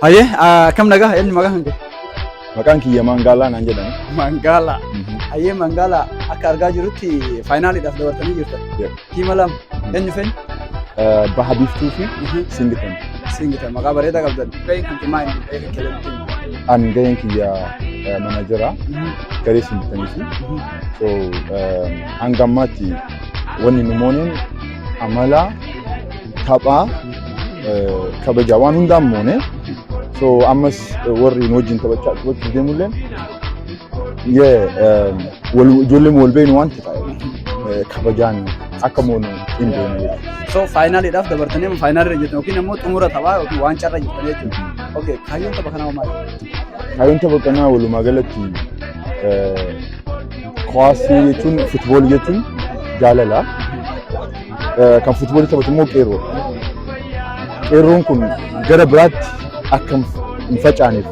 Hayyee akkam nagaa eenyu maqaa kan kee? Maqaan kiyya Maangaalaa naan jedhama. Mangaala. Hayyee Mangaala akka argaa jirutti faayinaaliidhaaf dabartanii jirtan. Yep. Tiima lama eenyu feeni? Eh, Baha Biiftuu fi Singitan. Singitan maqaa bareedaa qabdan. Gaheen kan timaa inni gahee kan keelatti. An gaheen kiyya eh, manaajera garee Singitanii fi so eh, hanga ammaatti wanni nu mooneen amala Taphaa kabajaa waan hundaan moone so ammas warri nu wajjin taphachaa taphachuuf deemulleen ijoollee wal beeknu waan ta'e kabajaan akka moonu hin beeknu. So faayinaaliidhaaf dabartanii faayinaalirra jirtan yookiin immoo xumura taphaa yookiin waancarra jirtan jechuudha. Okay kaayyoon tapha kanaa maali? Kaayyoon tapha kanaa walumaa galatti kuwaasii jechuun futboolii jechuun jaalala. Kan fuutboolii taphatu immoo qeerroo. Qeerroon kun gara biraatti akka hin facaaneef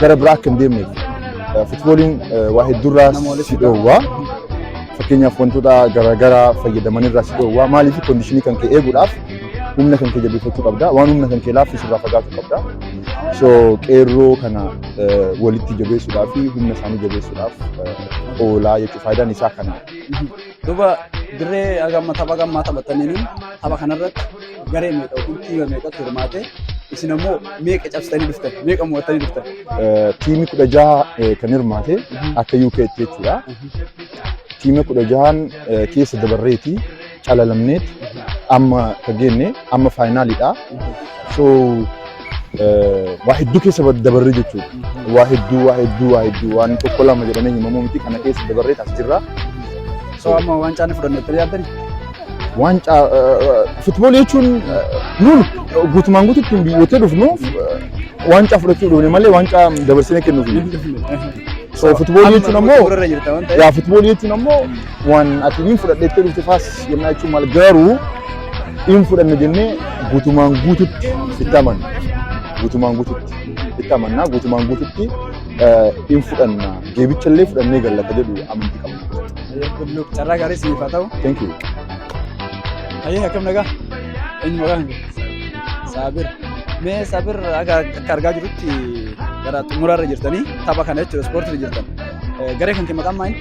gara biraa akka hin deemneef fuutbooliin waa hedduurraa si dhoowwaa. Fakkeenyaaf wantoota garaagaraa fayyadamanirraa si dhoowwaa. Maaliif kondiishinii kan kee eeguudhaaf humna kan kee jabeeffachuu qabda. Waan humna kan kee laaffisu irraa fagaachuu qabda. So qeerroo kana walitti jabeessuudhaa fi humna isaanii jabeessuudhaaf oolaa jechuudha. Faayidaan isaa kana. Duuba dirree haga amma tapha haga ammaa taphattaniin tapha kanarratti garee meeqa yookiin tiima meeqatu hirmaate isin ammoo meeqa cabsitanii dhuftan meeqa mo'attanii dhuftan. Tiimii kudha jaha kan hirmaate akka UK tti jechuudha. Tiimii kudha jahaan keessa dabarreeti calalamneeti amma kan geenne amma faayinaaliidha. So waa hedduu keessa dabarree jechuudha. Waa hedduu, waa hedduu, waa hedduu waan tokko lama jedhamee himamuu miti kana keessa dabarree as jirra. So amma waancaa ni fudhanne itti yaaddan? Waancaa futboolii jechuun nuun guutumaan guututti biyyoota dhufnu waancaa fudhachuu dhufne malee waancaa dabarsinee kennuuf. So futboolii jechuun ammoo yaa futboolii jechuun ammoo Waan ati hin fudhadheettee dhufte faas jennaa jechuun maal garuu hin fudhanne jennee guutumaan guututti itti amanna. Guutumaan guututti itti amanna. Guutumaan guututti hin fudhanna. Geebicha illee fudhannee galla akka jedhu amantii qabna. Luuk carraa gaarii siif haa ta'u. Thank you. Hayyee akkam nagaa? Eenyu maqaan kee? Saabir. Mee Saabir akka akka argaa jirutti gara xumuraarra jirtanii tapha kana jechuudha ispoortiirra jirtan. Garee kan kee maqaan maali?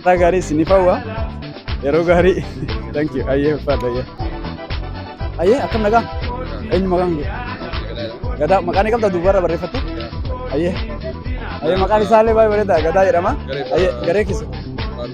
Haala gaarii isiniif hawwa. Yeroo gaarii. Thank you. Ayyee uffata ayyee. Ayyee akkam nagaa? Eenyu maqaan kee? Gadaa maqaan ni qabda duubarra barreeffattu? Ayyee. Ayyee maqaan isaallee baay'ee bareeda gadaa jedhama. Ayyee garee keessa.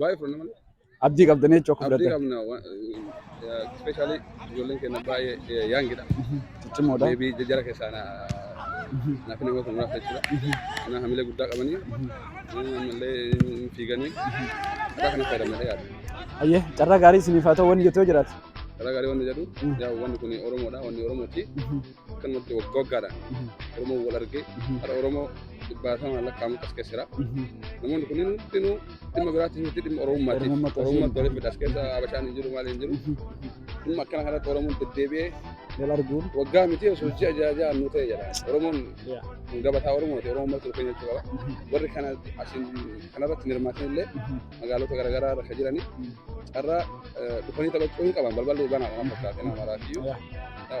Baay'ee fudhanna malee. Abdii qabdanii jechuu akka Abdii fudhatan. qabna. Ispeeshaalii ijoolleen keenya baay'ee yaangidha. Ciccimoodha. Deebii jajjara keessaa na naaf nama kun muraasa jechuudha. Kana hamilee guddaa qabanii ammallee hin fiiganii akka kana fayyadamadha yaada. Ayyee carraa gaarii isiniif haa ta'u wanni jettu yoo jiraate. Karaa gaarii wanni jedhu yaa wanni kun Oromoodha wanni Oromooti. akkanumatti waggaa waggaadhaan Oromoon wal argee har'a Oromoo dhibbaatamaan lakkaa'amu as keessa jira. Namoonni kunneen hundinuu dhimma biraatti miti dhimma Oromummaati. Oromummaa qabsoo Oromummaatti waliin fidha as keessa Habashaan hin jiru maal hin jiru. Dhimma akkana kanatti Oromoon deddeebi'ee wal arguun waggaa miti osoo hojii ajaa'ibaa nu ta'e jedha. Oromoon Yaa. gabataa Oromooti Oromoo mataa dhufee jechuu qaba. Warri kana asiin kanarratti hin hirmaatan illee magaalota garaagaraa irra kan jiranii carraa eh, dhufanii taphachuu hin qaban balballi banaa waan fakkaate nama maraatiyyuu. Yaa.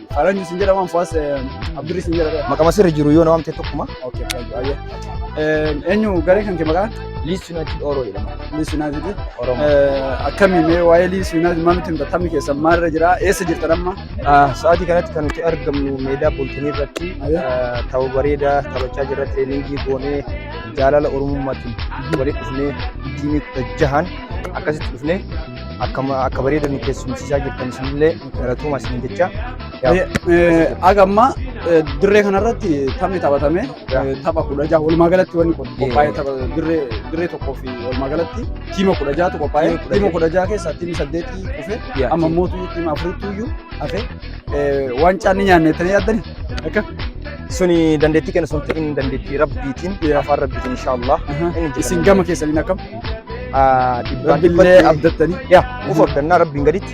Faranji sin jedhama amfaas Abdurri sin jedhama. Maqama sirri jiru yoo na waamte tokkuma. Okay, faranji baay'ee. Eenyu garee kan kee maqaan? Liis Yuunaayitid Ooroo jedhama. Liis Yuunaayitid. Oromoo. Akkami mee waa'ee Liis Yuunaayitid maal nutti himta? Taphni keessan maalirra jira? Eessa jirtan amma? Sa'aatii kanatti kan nuti argamnu meedaa Booltonii irratti tapha bareedaa taphachaa jirra tireeningii goonee jaalala Oromummaatiin walitti dhufnee tiimii kudha jahan akkasitti dhufnee akka bareeda nu keessumsiisaa jirtan isinillee Galatooma isin jecha. Aga ammaa dirree kanarratti taphni taphatame tapha kudha jaha walumaa galatti wanni kun qophaa'ee tapha dirree dirree tokkoo fi walumaa galatti tiima kudha jahatu qophaa'ee tiima kudha jaha keessaa tiimni saddeetii kufe amma mootu tiima afuritti iyyuu hafe waancaa ni nyaanne tanii yaaddani akka Suni dandeettii kenna sun ta'in dandeettii rabbiitiin afaan rabbiitiin inshaallah. isin gama keessaniin akkam Dhibbaan rabbillee dhibbatti abdattanii yaa of abdannaa rabbiin gaditti.